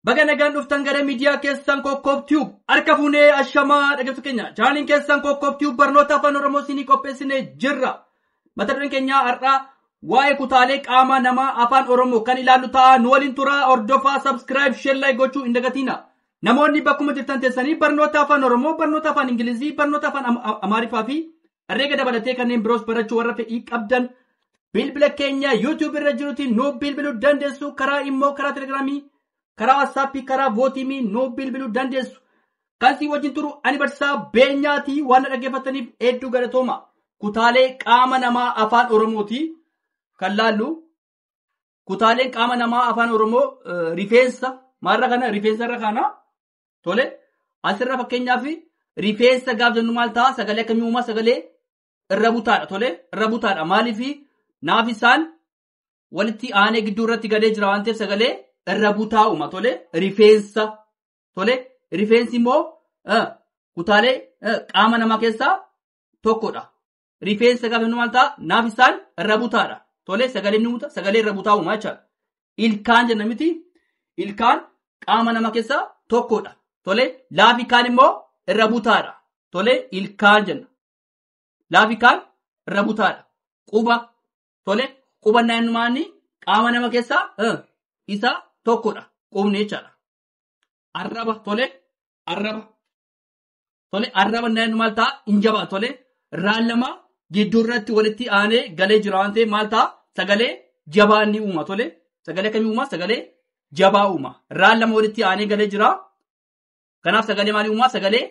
Baga nagaan dhuftan gara miidiyaa keessan Kokkoob Tube. Harka fuunee ashamaa dhaggeeffattoota keenya. Chaanaliin keessan Kokkoob Tube barnoota afaan Oromoo isinii qopheessinee jirra. Mata dureen keenya har'aa waa'ee kutaalee qaamaa namaa afaan Oromoo kan ilaallu ta'a. Nu waliin turaa hordofaa subscribe share like gochuu hin dagatiina. Namoonni bakkuma jirtan teessanii barnoota afaan Oromoo, barnoota afaan Ingilizii, barnoota afaan Am- Am- Amaariffaa fi Herreega dabalatee kanneen biroos barachuu warra fedhii qabdan bilbila keenya YouTube irra jirutiin nu bilbiluu dandeessu karaa immoo karaa telegiraamii karaa waatsaappii karaa vootiimii nu bilbiluu dandeessu. Kan si wajjin turu ani barsiisaa beenyaatii waan na dhaggeeffataniif hedduu galatooma. Kutaalee qaama namaa afaan Oromooti kan laallu. Kutaaleen qaama namaa afaan Oromoo rifeensa maarra kana rifeensarra kana Tole asirra fakkeenyaaf rifeensa gaaf jennu maal ta'a sagalee akkamii uumaa sagalee irra butaadha tole irra butaadha maaliif naaf isaan walitti aanee gidduu irratti galee jira waan ta'eef sagalee irra butaa uuma tole rifeensa tole rifeensi immoo eh, kutaalee eh, qaama namaa keessaa tokkodha rifeensa gaafa jennu maal ta'a? Naaf isaan irra butaadha. Tolee sagalee ni buta sagalee irra butaa uumaa jechaadha. Ilkaan jenna miti ilkaan qaama nama keessaa tokkodha. Tolee laafi kaan immoo irra butaadha. Tolee ilkaan jenna. Laafi kaan irra butaadha. Quba tolee quba naannumaan qaama nama keessaa eh, isa tokkodha. Qubni jechaadha. Arraba tolee arraba. Tole arraba naannu maal ta'a? Hin jabaa tole raan lama gidduu irratti walitti aanee galee jira waan ta'eef maal ta'a? Sagalee jabaa inni uuma tole sagalee akkamii uuma? Sagalee jabaa uuma. Raan lama walitti aanee galee jira. Kanaaf sagalee maalii uuma? Sagalee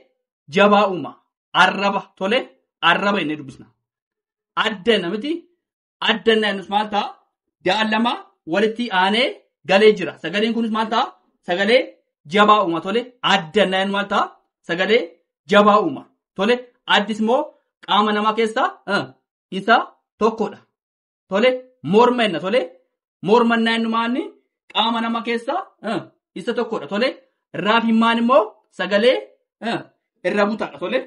jabaa uuma. Arraba tole arraba inni dubbisna. Adda namiti adda inni annus maal ta'a? Ja'a lama walitti aanee galee jira. Sagaleen kunis maal ta'a? Sagalee jabaa uuma tole. Adda inni annu maal ta'a? Sagalee jabaa uuma tole. Addis immoo qaama namaa keessaa eh, isa tokkodha. Tole morma jenna tole. Mormannaa innumaanni qaama nama keessaa eh, isa tokkodha tole. Raaf himmaan immoo sagalee eh, irra butaadha tole.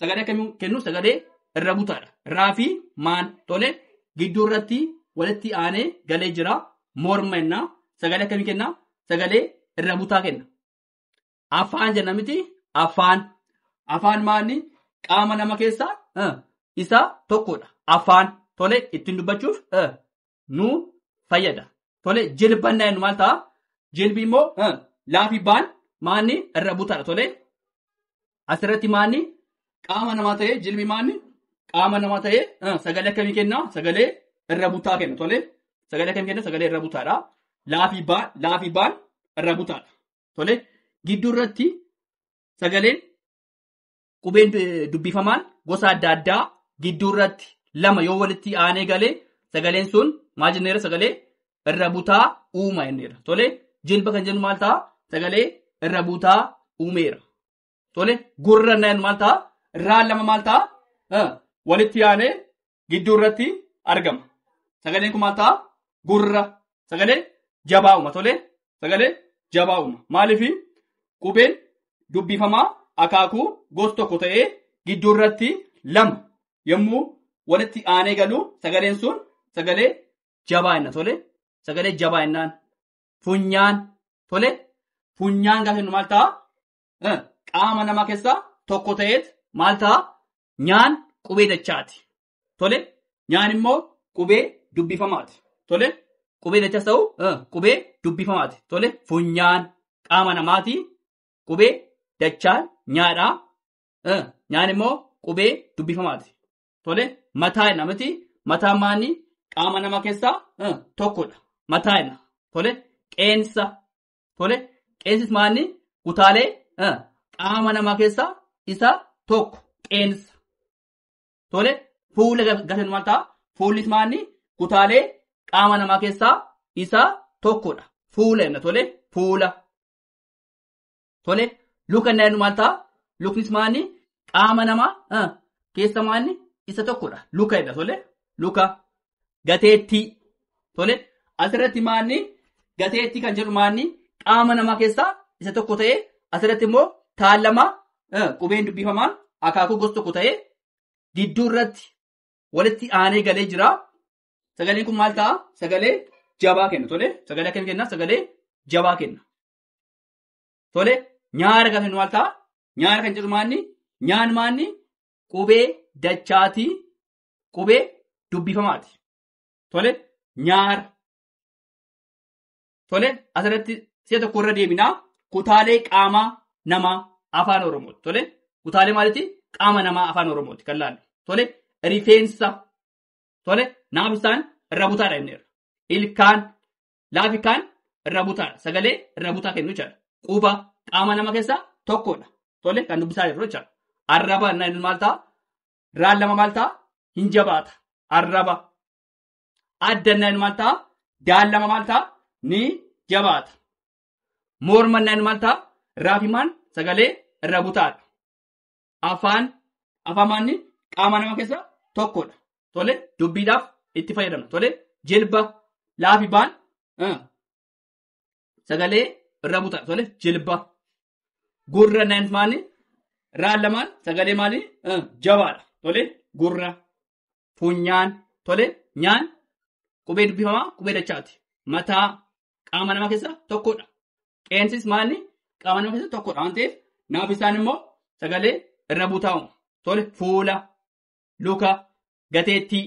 Sagalee akkamii kennu sagalee irra butaadha. Raafi maan tole gidduu irratti walitti aanee galee jira. Morma jenna. Sagalee akkamii kenna? Sagalee irra butaa kenna. Afaan jenna miti afaan. Afaan maanni qaama nama keessaa eh, isa tokkodha. Afaan tole ittiin dubbachuuf eh, nu fayyada. Tole jilban naannu maal ta'a? Jilbi immoo eh, laafi baan maanni irra butaadha. Tole asirratti maanni qaama namaa ta'ee jilbi maanni qaama namaa ta'ee eh, sagalee akkamii kenna? Sagalee irra butaa kenna. Tole sagalee akkamii kenna? Sagalee irra butaadha. Laafi baan laafi baan irra butaadha. Tole gidduu irratti sagaleen qubeen eh, dubbifamaan gosa adda addaa gidduu irratti lama yoo walitti aanee galee sagaleen sun maal jenneera sagalee irra butaa uuma jenneera. Tole jilba kan jennu maal ta'a sagalee irra butaa uumeera. Tole gurra nan maal ta'a irraan lama maal ta'a Eh, walitti aanee gidduu irratti argama. Sagaleen kun maal ta'a? Gurra. Sagalee jabaa uuma tolee. Sagalee jabaa uuma. Maaliif qubeen dubbifamaa akaakuu gosa tokko ta'ee gidduu irratti lama yommuu walitti aanee galu sagaleen sun sagalee jabaa inna tole sagalee jabaa innaan funyaan tole funyaan gaafa jennu maal ta'a eh, qaama namaa keessaa tokko ta'eet maal ta'a? Nyaan qubee dachaati. Tole? Nyaan immoo qubee dubbifamaati. Tole? Qubee dachas ta'u eh, qubee dubbifamaati. Tole? Funyaan qaama namaati. Qubee dachaan nyaadha. Eh, Nyaan immoo qubee dubbifamaati. Tole? Mataa namati. Mataa maanii qaama namaa keessaa eh, tokkodha. Mataa ina. Tole? Qeensa Tole qeensis maanni kutaalee eh, qaama namaa keessaa isa tokko qeensa. Tole fuula ga- gatan maal ta'a? Fuullis maanni kutaalee qaama namaa keessaa isa tokkodha. Fuula jenna tole fuula. Tole luka inni jennu maal ta'a? Luknis maanni qaama namaa eh, keessa maanni isa tokkodha. Luka jedha tole luka. gateettii tole asirratti maanni gateettii kan jedhu maanni qaama namaa keessaa isa tokko ta'ee asirratti immoo taallamaa eh, qubeen dubbifamaa akaakuu gosa tokko ta'ee gidduu irratti walitti aanee galee jira. Sagaleen kun maal ta'a? Sagalee jabaa kenna tole sagalee akkam kenna? Sagalee jabaa kenna. Tole nyaara kan jennu maal ta'a? Nyaara kan jedhu maanni nyaan maanni qubee dachaatii qubee dubbifamaati. Tole nyaara. Tole asirratti si'a tokko irra deebinaa kutaalee qaamaa namaa afaan Oromooti. Tole kutaalee maaliiti? Qaama namaa afaan Oromooti kan laallu. Tole rifeensa. Tole naabisaan irra butaadha jenneerra. Ilkaan laafi kaan irra butaadha. Sagalee irra butaa kennu jechaadha. Quba qaama nama keessaa tokkodha. Tole kan dubbisaa jirru jechaadha. Arraba inni maal ta'a? raan lama maal ta'a hin jabaata arraba addannan maal ta'a daan lama maal ta'a ni jabaata mormannan maal ta'a raafimaan sagalee irra butaadha afaan afaan maanni qaama nama keessa tokkodha tole dubbiidhaaf itti fayyadamna tole jilba laafibaan sagalee irra butaa tole jilba gurra nan maali raan lamaan sagalee maali Eh, jabaadha tole gurra funyaan tole nyaan qubee dubbifamaa qubee dachaati mataa qaama namaa keessaa tokkodha qeensis maali qaama namaa keessaa tokkodha waan ta'eef naaf isaan immoo sagalee irra butaa'u tole fuula luka gateettii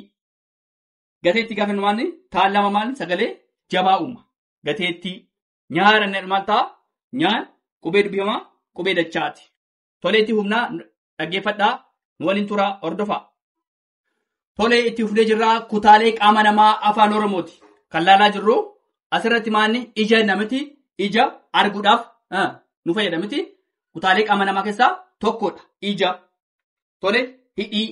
gateettii gaafa maal taan lama maal sagalee jabaa uuma. Gateettii nyaara inni maal ta'a nyaan qubee dubbifamaa qubee dachaati. Tolee itti humnaa dhaggeeffadhaa nu waliin turaa hordofaa. Tolee itti fufnee jirraa kutaalee qaama namaa afaan Oromooti. Kan laalaa jirru asirratti maanni ija namiti ija arguudhaaf ah, nu fayyada miti. Kutaalee qaama namaa keessaa tokkodha. Ija. Tole hidhii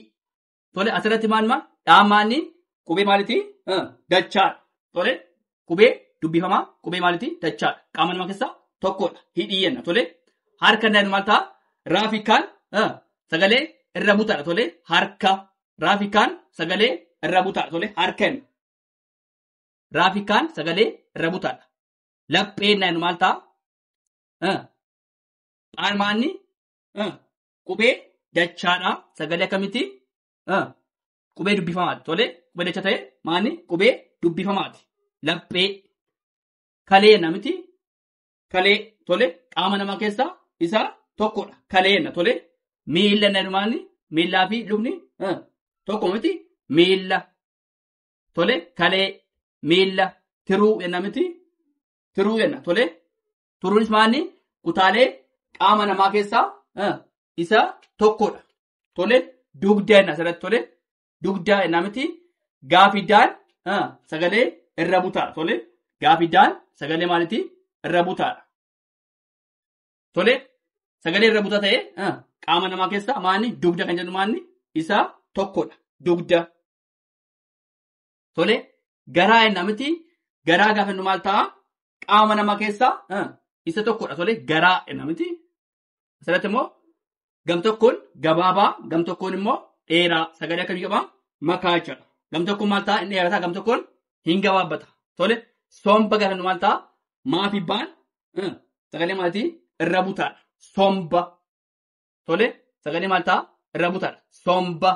Tole asirratti maal maal dhaamaanni qubee maaliti dachaadha. Tole qubee dubbifamaa qubee maaliti dachaadha. Qaama namaa keessaa tokkodha. Hidhii jenna. Tole harka danda'an maal ta'a? Raafikaan sagalee irra butaadha. Tole harka raafikaan sagalee irra butaadha. Tole harka jenna. Raafikaan sagalee irra butaadha. Lapheen danda'an maal ta'a? Dhaamaanni qubee dachaadha. Sagalee akkamitti? Ah, Qubee dubbifamaati. Tole, qubee dacha ta'e maani? Qubee dubbifamaati. Laphee. Kalee namiti. Kalee. Tole, qaama namaa keessaa isa tokkodha. Kalee na tole. Miila na maani? Miilaa fi lukni ah, tokko miti. Miila. Tole, kalee. Miila. Tiruu jenna miti. Tiruu jenna. Tole, Turuunis maalni kutaalee qaama namaa keessaa eh, isa tokkodha. Tole dugda jenna asirratti tole dugda jenna miti gaafidaan eh, sagalee irra butaadha. Tole gaafidaan sagalee maaliti irra butaadha. Tole sagalee irra butaa ta'e eh, qaama namaa keessaa maalni dugda kan jedhu maalni isa tokkodha. Dugda. Tole garaa jenna miti garaa gaafa jennu maal ta'a? Qaama namaa keessaa ah, isa tokkodha tole garaa jenna miti. Asirratti immoo gam tokkoon gabaabaa gam tokkoon immoo dheeraa sagalee akkamii qaba? Makaa jechuudha. Gam tokkoon maal ta'a? Inni dheerataa gam tokkoon hin gabaabbata. Tole somba gaafa jennu maal ta'a? Maafi baan ah, sagalee maatii irra butaadha. Somba. Tole sagalee maal ta'a? Irra butaadha. Somba.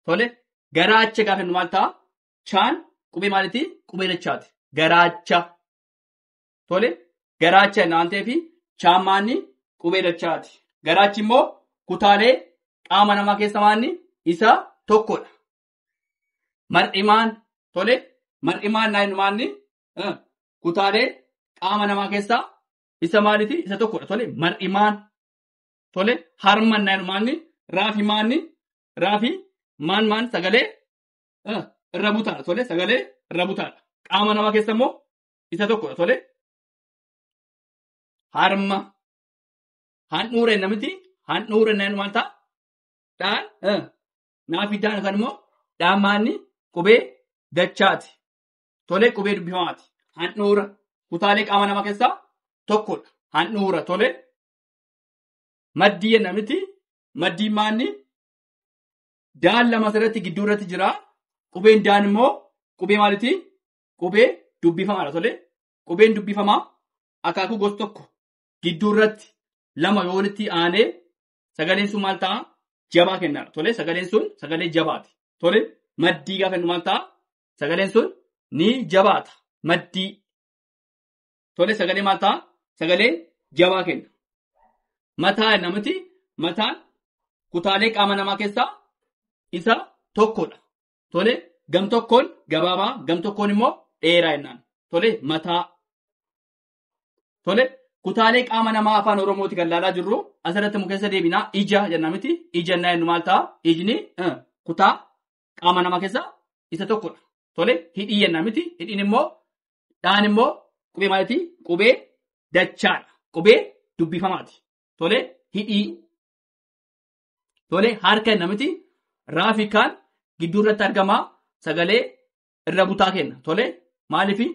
Tole garaacha gaafa jennu maal ta'a? Chaan qubee maaliti? Qubee dachaati. Garaacha. Tole garaacha jenna waan ta'eef chaan maanni qubee dachaati. Garaachi immoo kutaalee qaama namaa keessa maanni isa tokkodha. Mar'imaan tole mar'imaan naa jennu maanni eh, kutaalee qaama namaa keessaa isa maaliti? Isa tokkodha. Tole mar'imaan tole harman naa jennu maanni raafi maanni raafi maan maan sagalee eh, irra butaadha tole sagalee irra butaadha qaama namaa keessa immoo isa tokkodha tole harma handhuura jenna miti handhuura jenna maal ta'a dhaan eh, naafi daan yookaan immoo dhaan maanni qubee dachaati tole qubee dubbifamaati handhuura kutaalee qaama namaa keessaa tokkodha handhuura tole maddii jenna miti Maddiin maanni daan lama asirratti gidduu irratti jira. Qubeen daan immoo qubee maaliti? Qubee dubbifamaadha tole. Qubeen dubbifamaa akaakuu gosa tokko gidduu irratti lama yoo walitti aanee sagaleen sun maal ta'a? Jabaa kennaadha tole. Sagaleen sun sagalee jabaati tole. Maddii gaafa jennu maal ta'a? Sagaleen sun ni jabaata. Maddii tole sagalee maal ta'a sagalee jabaa kenna mataa jenna miti mataan kutaalee qaama namaa keessaa isa tokkodha tole gam tokkoon gabaabaa gam tokkoon immoo dheeraa jennaan tole mataa tole kutaalee qaama namaa afaan oromooti kan laalaa jirru asirratti immoo keessa deebinaa ija jenna miti ija jennaa jennu maal ta'a ijni eh, kutaa qaama namaa keessaa isa tokkodha tole hidhii jenna miti hidhiin immoo Dhaan immoo qubee maaliti? Qubee dachaadha. Qubee dubbifamaati. Tole hidhii. Tole harka kenna miti. Raafi kaan gidduu irratti argama sagalee irra butaa kenna. Tole maaliifi?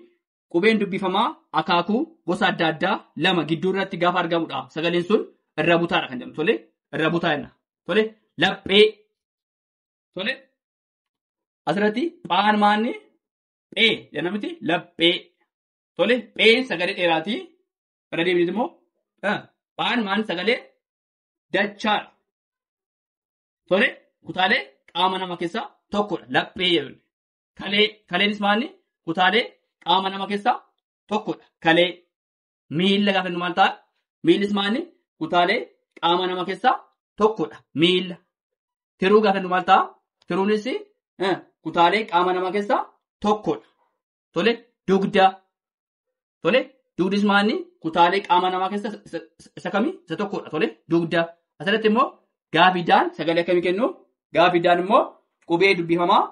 Qubeen dubbifamaa akaakuu gosa adda addaa lama gidduu irratti gaafa argamudha. Sagaleen sun irra butaadha kan jedhamu. Tole irra butaa jenna. Tole laphee. Tole asirratti phaan maanni Phee jenna miti laphee. Tole pheen sagalee dheeraati. Irra deebiin immoo ah, phaan maan sagalee dachaa. Tole kutaalee qaama nama keessaa tokkodha. Laphee jedhu. Kalee kaleenis maanni kutaalee qaama nama keessaa tokkodha. Kalee Miila gaafa jennu maal ta'a? Miillis maanni kutaalee qaama nama keessaa tokkodha. Miila. Tiruu gaafa jennu maal ta'a? Tiruunis eh, kutaalee qaama nama keessaa tokkodha. Tole dugda. Tole dugdis maanni kutaalee qaama namaa keessaa isa- isa- isa- isa kami? Isa tokkodha. Tole dugda. Asirratti immoo gaafidaan sagalee akkamii kennu? Gaafidaan immoo qubee dubbifamaa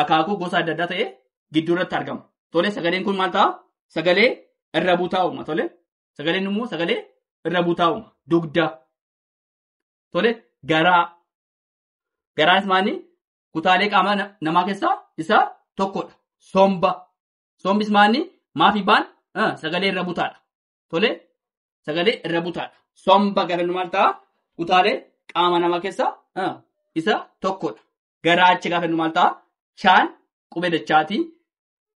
akaakuu gosa adda addaa ta'e gidduu irratti argama. Tole sagaleen kun maal ta'a? Sagalee irra butaa uuma. Tole sagaleen immoo sagalee irra butaa uuma. Dugda. Tole garaa. Garaanis maali? Kutaalee qaamaa na- namaa keessaa isa tokkodha. Somba. Sombis maali? Maafi baan ah, sagalee irra butaadha. Tole sagalee irra butaadha. Somba garaan maal ta'a? Kutaalee qaama namaa keessaa ah, isa tokkodha. gara achi gaafa jennu maal ta'a? Chaan qubee dachaati.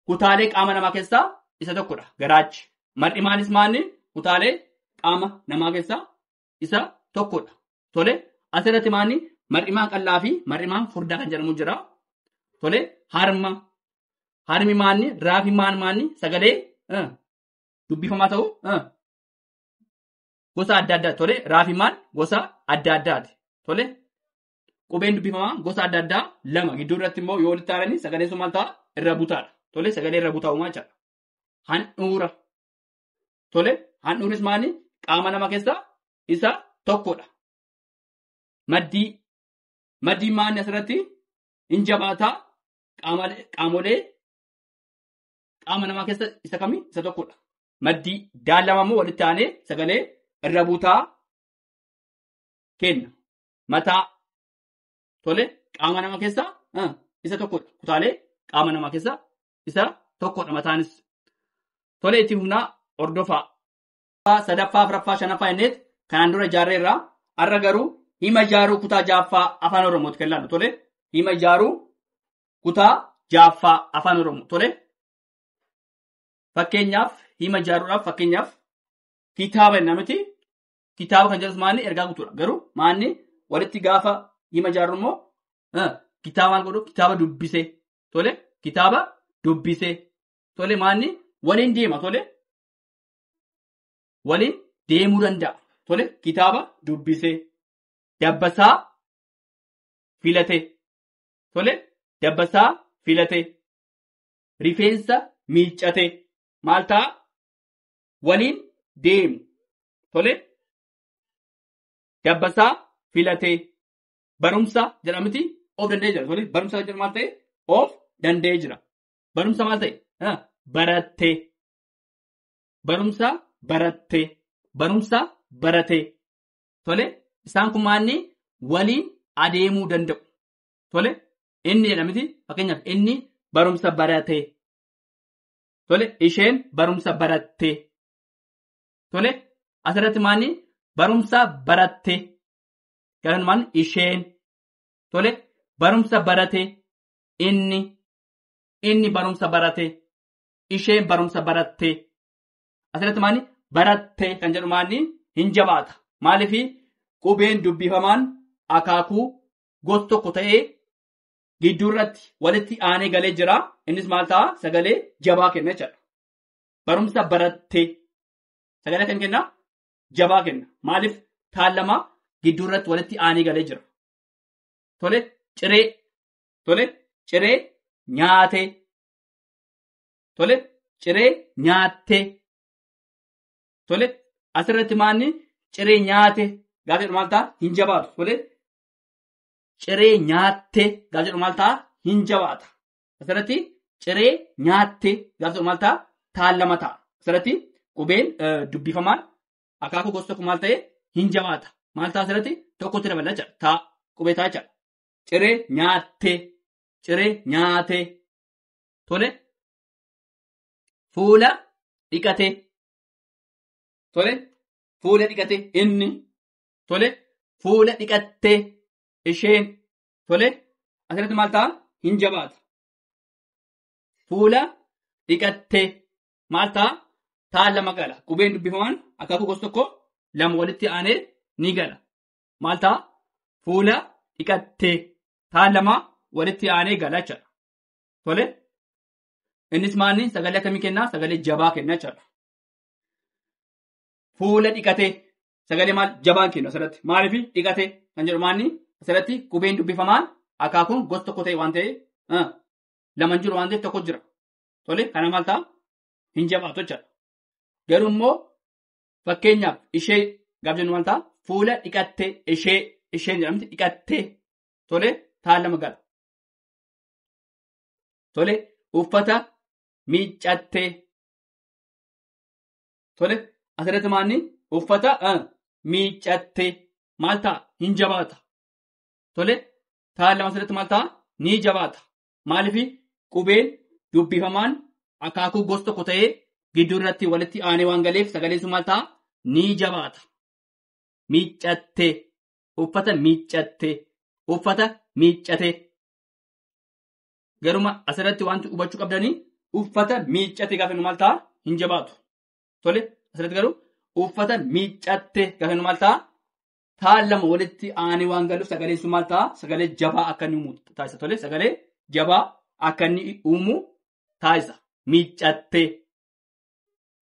Kutaalee qaama namaa keessaa isa tokkodha. Gara achi. Mar'imaanis maanni kutaalee qaama namaa keessaa isa tokkodha. Tole asirratti maanni mar'imaan qal'aa fi mar'imaan furdaa kan jedhamu jira. Tole harma. Harmi maanni raafi maan maanni sagalee eh, dubbifamaa ta'u eh, gosa adda addaa tole raafi maan gosa adda addaati. Tole Qubeen dubbifamaa gosa adda addaa lama gidduu irratti immoo yoo walitti aananii sagaleen sun maal ta'a? Irra butaadha. Tole sagalee irra butaa uumaa jechaadha. Handhuura. Tole handhuurris maali? Qaama nama keessaa isa tokkodha. Maddii. Maddiin maanni asirratti hin jabaataa qaama- qaamolee qaama namaa keessa isa kami? Isa tokkodha. Maddii daallama immoo walitti aanee sagalee irra butaa kenna. mataa tole qaama nama keessaa ah, isa tokkodha. Kutaalee qaama nama keessaa isa tokkodha mataanis. Tole itti humnaa hordofaa. Ffaa, sadaffaa, afraffaa, shanaffaa innis kanaan dura ijaarree irraa har'a garuu hima ijaaruu kutaa jaaffaa afaan oromooti kan ilaallu tole hima ijaaruu kutaa jaaffaa afaan oromoo tole fakkeenyaaf hima ijaaruudhaaf fakkeenyaaf kitaaba jenna miti kitaaba kan jedhus maanni ergaa guutuudha. Garuu maanni walitti gaafa hima ijaarru immoo eh, kitaaba maal godhu kitaaba dubbisee tole kitaaba dubbisee tole maanni waliin deema tole waliin deemuu danda'a tole kitaaba dubbisee dabbasaa filatee tole dabbasaa filatee rifeensa miiccatee maal ta'a waliin deemu. Tole dabbasaa filatee barumsa jedhamti of danda'ee jira. Tole barumsa jedhamu maal ta'e of danda'ee jira. Barumsa maal ta'e Ah, barattee. Barumsa barattee. Barumsa baratee. Tole isaan kun maanni waliin adeemuu danda'u. Tole inni jedhamti fakkeenyaaf inni barumsa baratee. Tole isheen barumsa barattee. Tole asirratti maanni barumsa barattee. Garaanumaan isheen. Tole barumsa baratee. Inni. Inni barumsa baratee. Isheen barumsa barattee. Asirratti maanni barattee kan jedhu maanni hin jabaata. Maaliif qubeen dubbifamaan akaakuu gosa tokko ta'ee gidduu irratti walitti aanee galee jira. Innis maal ta'a? Sagalee jabaa kenna jechuudha. Barumsa barattee sagalee kan kenna jabaa kenna. Maaliif taan lama gidduu irratti walitti aanee galee jira. Tole ciree tole ciree nyaatee tole ciree nyaattee tole asirratti maanni ciree nyaate gaafa jedhu maal ta'a? Hin jabaatu tole ciree nyaattee gaafa jedhu maal ta'a? Hin jabaata. Asirratti ciree nyaattee gaafa jedhu maal ta'a? Taan lama ta'a. Asirratti qubeen eh, dubbifamaan akaakuu gosa tokko maal ta'e? Hin jabaata. Maal ta'a asirratti? Tokkotti dabala jechuudha. Taa qubee ta'a jechuudha. Ciree nyaattee. Ciree nyaatee. Tole. Fuula dhiqatee. Tole. Fuula dhiqatee inni tole fuula dhiqattee isheen tole asirratti maal ta'a hin jabaata fuula dhiqattee maal ta'a taa lama gala qubeen dubbifaman akaakuu gosa tokko lama walitti aanee ni gala maal ta'a fuula dhiqattee taa lama walitti aanee gala jechuudha tole innis maanni sagalee akkamii kennaa sagalee jabaa kennaa jechuudha fuula dhiqatee sagalee maal jabaan kennu asirratti maaliif dhiqate kan jedhu maanni asirratti qubeen dubbifamaan akaakuun gosa tokko ta'e waan ta'e laman jiru waan ta'eef tokko jira. Tole kana maal ta'a hin jabaatu jechuudha. Garuu immoo fakkeenyaaf ishee gaaf jennu maal ta'a fuula dhiqattee ishee isheen jedhamti dhiqattee tole taan lama gala. Tole uffata miiccattee Tole asirratti maanni uffata miiccattee maal ta'a hin jabaata. Tole taa'an lama asirratti maal ta'a ni jabaata. Maaliif qubeen dubbifamaan akaakuu gosa tokko ta'ee gidduu irratti walitti aanee waan galeef sagaleen sun maal ta'a ni jabaata. Miiccattee uffata miiccattee uffata miiccatee. Garuma asirratti wanti hubachuu qabdanii uffata miiccate gaafa nu maal ta'a hin jabaatu. Tole asirratti garuu uffata miiccatte gaafa nu maal ta'a taan lama walitti aanee waan galuuf sagaleen sun maal ta'a sagalee jabaa akka inni uumu taasisa. Tole sagalee jabaa akka inni uumu taasisa. Miiccatte.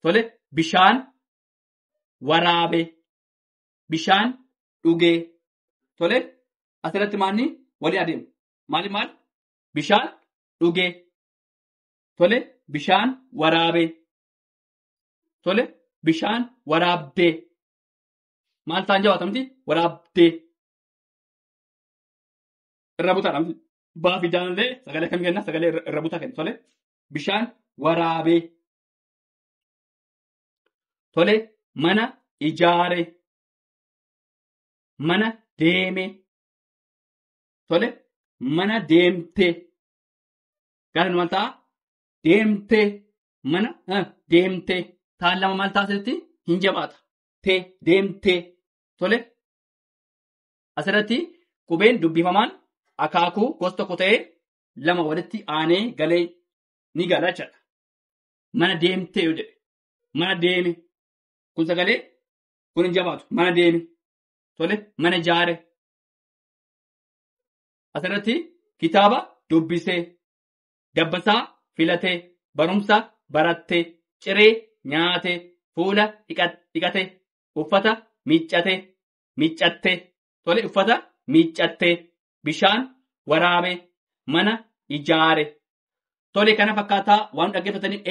Tole bishaan waraabe. Bishaan dhugee. Tole asirratti maanni waliin adeemu. maali maal bishaan dhugee tole bishaan waraabee tole bishaan waraabdee maal ta'an jawaatamti waraabdee irra butaadha baa fi daanillee sagalee akkamii kenna sagalee irra irra butaa kenna tole bishaan waraabee tole mana ijaare mana deeme Tole mana deemtee gara maal ta'a? Deemtee mana eh, deemtee taan lama maal taatetti hin jabaata. Tee deemtee tole asirratti qubeen dubbifamaan akaakuu gosa tokko ta'ee lama walitti aanee galee ni gala jechuudha. Mana deemtee yoo jedhe mana deeme kun sagalee kun hin jabaatu mana deeme tole mana jaare Asirratti kitaaba dubbisee, dabbasaa filatee, barumsa barattee, ciree nyaatee, fuula dhiqatee, uffata miiccatee, miiccattee, tole uffata miiccattee, bishaan waraabee, mana ijaare. Tole kana fakkaataa waan dhaggeeffataniif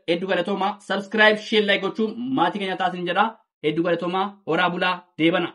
hedduu galatoomaa. Subscribe, share, like gochuun maatii keenya taasin jedha. Hedduu galatoomaa. Horaa bulaa deebana.